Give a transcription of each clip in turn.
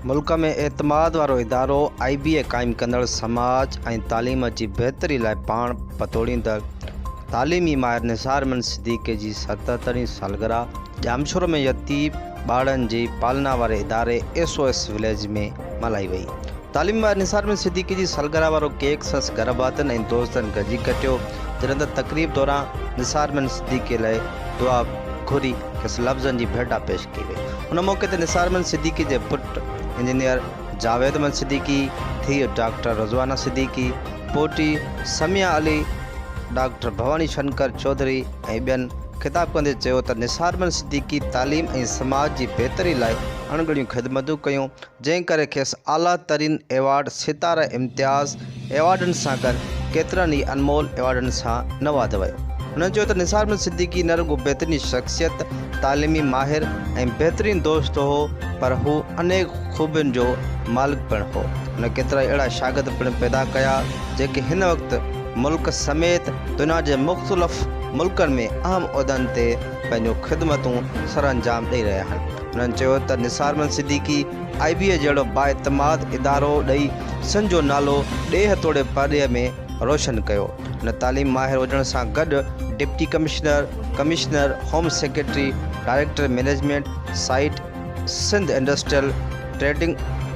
ملڪ ۾ اعتماد وارو ادارو آء بي اي قائم ڪندڙ سماج ۽ تعليم جي بهتري لاء پاڻ پتوڙيندڙ تعليمي ماهر نثار احمد صديقي جي ستهترين سالگرهه ڄامشورو ۾ يتيم ٻارڙن جي پالنا واري اداري ايس او ايس وليج ۾ ملهائي وئي تعليم واري نثار ۾ صديقي جي سالگرهه وارو ڪيڪ سندس گهر ڀاتين ۽ دوستن گڏجي ڪٽيو، جڏهن ته تقريب دوران نثار مين صديقي لاء دعا گهري کيس لفظن جي ڀيٽا پيش ڪئي وئي. ان موقعي تي نثار مين صديقي جي پٽ انجنيئر جاويد مين صديقي، ڌيء ڊاڪٽر رضوانه صديقي، پوٽي سميا علي، ڊاڪٽر ڀواني شنڪر چوڌري ۽ ٻين خطاب ڪندي چيو ته نثار مين صديقي تعليم ۽ سماج جي بهتري لاء اڻ ڳڻيون خدمتون ڪيون، جنهن ڪري کيس اعليٰ ترين ايوارڊ ستاره امتياز ايوارڊن سان گڏ ڪيترن ئي انمول ايوارڊن سان نوازيو ويو. هن چيو ته نثار احمد صديقي نه رڳو بهترين شخصيت، تعليمي ماهر ۽ بهترين دوست هو پر هو انيڪ خوبين جو مالڪ پڻ هو. هن ڪيترائي اهڙا شاگرد پڻ پيدا ڪيا جيڪي هن وقت ملڪ سميت دنيا جي مختلف ملڪن ۾ اهم عهدن تي پنهنجون خدمتون سرانجام ڏئي رهيا آهن. هنن چيو ته نثار محمد صديقي آء بي اي جهڙو بااعتماد ادارو ڏئي سنڌ جو نالو ڏيهه توڙي پرڏيهه ۾ روشن ڪيو. هن تعليم ماهر هجڻ سان گڏ deputy commissioner, commissioner, home secretary, director management site, Sindh industrial trading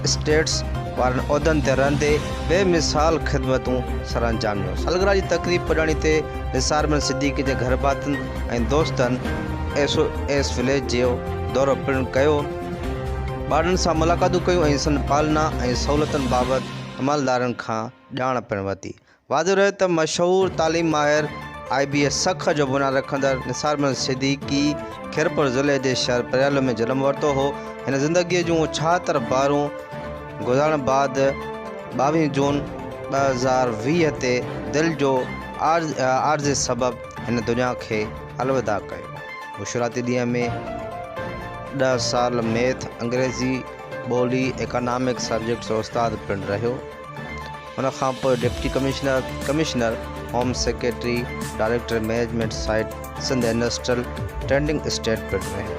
estates وارن عهدن تي رهندي بي مثال خدمتون سرانجام ڏنيون. سالگرهه جي تقريب پڄاڻي تي نثار محمد صديقي جي گهرڀاتين، ۽ دوستن ايس او ايس وليج جو دورو پڻ ڪيو، ٻارڙن سان ملاقاتون ڪيون ۽ سندن پالنا ۽ سهولتن بابت عملدارن کان ڄاڻ پڻ ورتي. واضح رهي ته مشهور تعليم ماهر آء بي ايس سک جو بنياد رکندڙ نثار محمد صديقي خيرپور ضلعي جي شهر پريالو ۾ جنم ورتو هو. هن زندگيء جون ڇهاتر بارون گذارڻ بعد ٻاويهه جون ٻه هزار ويهه تي دل جو عارضي سبب هن دنيا کي الوداع ڪيو. هو شروعاتي ڏينهن ۾ ڏهه سال ميٿ، انگريزي، ٻولي، ايڪانامڪس سبجيڪٽ جو استاد پڻ رهيو. ان کان پوء deputy commissioner, commissioner, home secretary, director management site Sindh industrial trading estate پڻ رهيو.